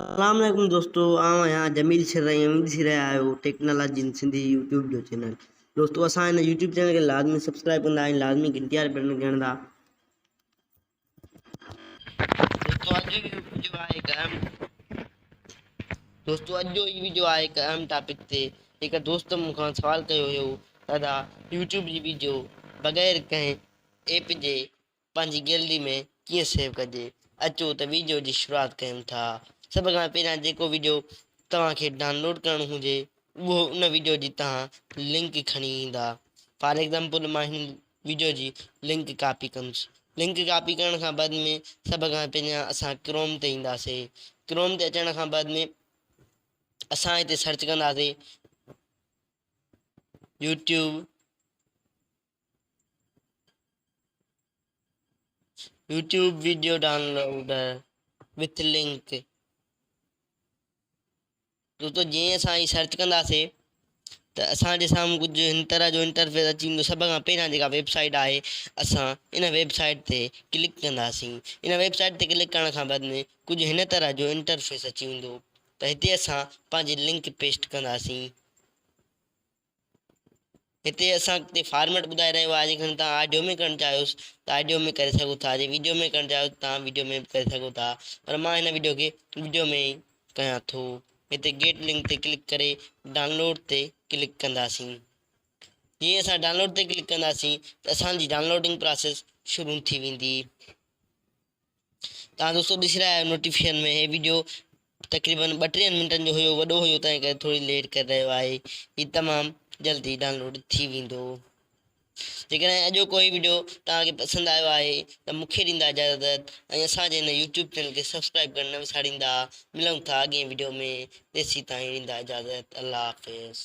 اسلام عليڪم دوستو آئون آهيان جميل شھر ۽ اوھين ڏسي رھيا آھيو ٽيڪنالاجي ان سنڌي يوٽيوب جو چينل دوستو اسان ان يوٽيوب چينل کي لازمي سبسڪرائب ڪندا ۽ لازمي گھنٽي واري بٽڻ کي ھڻدا دوستو اڄ جو ويڊيو آهي هڪ اهم دوستو اڄ جو هي ويڊيو آهي هڪ اهم ٽاپڪ تي هڪ دوست مون کان سوال ڪيو هيو دادا يوٽيوب جي ويڊيو بغير ڪنهن ايپ جي پنهنجي گيلري ۾ ڪيئن سيو ڪجي اچو ته ويڊيو جي شروعات ڪيون ٿا سڀ کان پهريان جيڪو ويڊيو توهان کي ڊانلوڊ ڪرڻو هجي اهو ان ويڊيو جي توهان لنڪ کڻي ايندا فار ايگزامپل مان هن ويڊيو جي لنڪ ڪاپي ڪندس لنڪ ڪاپي ڪرڻ کان بعد ۾ سڀ کان پهريان اسان ڪروم تي اينداسي ڪروم تي اچڻ کان بعد ۾ اسان هتي سرچ ڪنداسي YouTube YouTube video downloader with link دوستو جيئن اسان هي سرچ ڪنداسين ته اسان جي سامهون ڪجهه هن طرح جو انٽرفيس اچي ويندو سڀ کان پهريان جيڪا ويب سائيٽ آهي اسان ان ويب سائيٽ تي ڪلڪ ڪنداسين ان ويب سائيٽ تي ڪلڪ ڪرڻ کان بعد ۾ ڪجهه هن طرح جو انٽرفيس اچي ويندو ته هتي اسان پنهنجي لنڪ پيسٽ ڪنداسين هتي اسان کي فارميٽ ٻڌائي رهيو آهي جيڪڏهن توهان آڊيو ۾ ڪرڻ چاهيو ته آڊيو ۾ ڪري سگهو ٿا جي وڊيو ۾ ڪرڻ چاهيو ته توهان وڊيو ۾ به ڪري سگهو ٿا پر مان هن وڊيو کي وڊيو ۾ ئي ڪيان ٿو هتي گيٽ لنڪ تي ڪلڪ ڪري ڊائونلوڊ تي ڪلڪ ڪنداسين جي اسان ڊائونلوڊ تي ڪلڪ ڪنداسين ته اسان جي ڊائونلوڊنگ پراسيس شروع ٿي ويندي توهان دوستو ڏسي رهيا آهيو نوٽيفڪيشن ۾ هي ويڊيو تقريبن ٻٽيهن منٽن جو هيو وڏو هيو تنهن ڪري ٿوري ليٽ ڪري رهيو آهي هي تمام جلدي ڊائونلوڊ ٿي ويندو جيڪڏهن اڄوڪو هي ويڊيو توهان کي پسند آيو آهي ته مون کي ڏيندا اجازت ۽ اسان جي هن يوٽيوب چينل کي سبسڪرائب ڪرڻ نه وساريندا ملون ٿا اڳئين ويڊيو ۾ تيسين تائين ڏيندا اجازت الله حافظ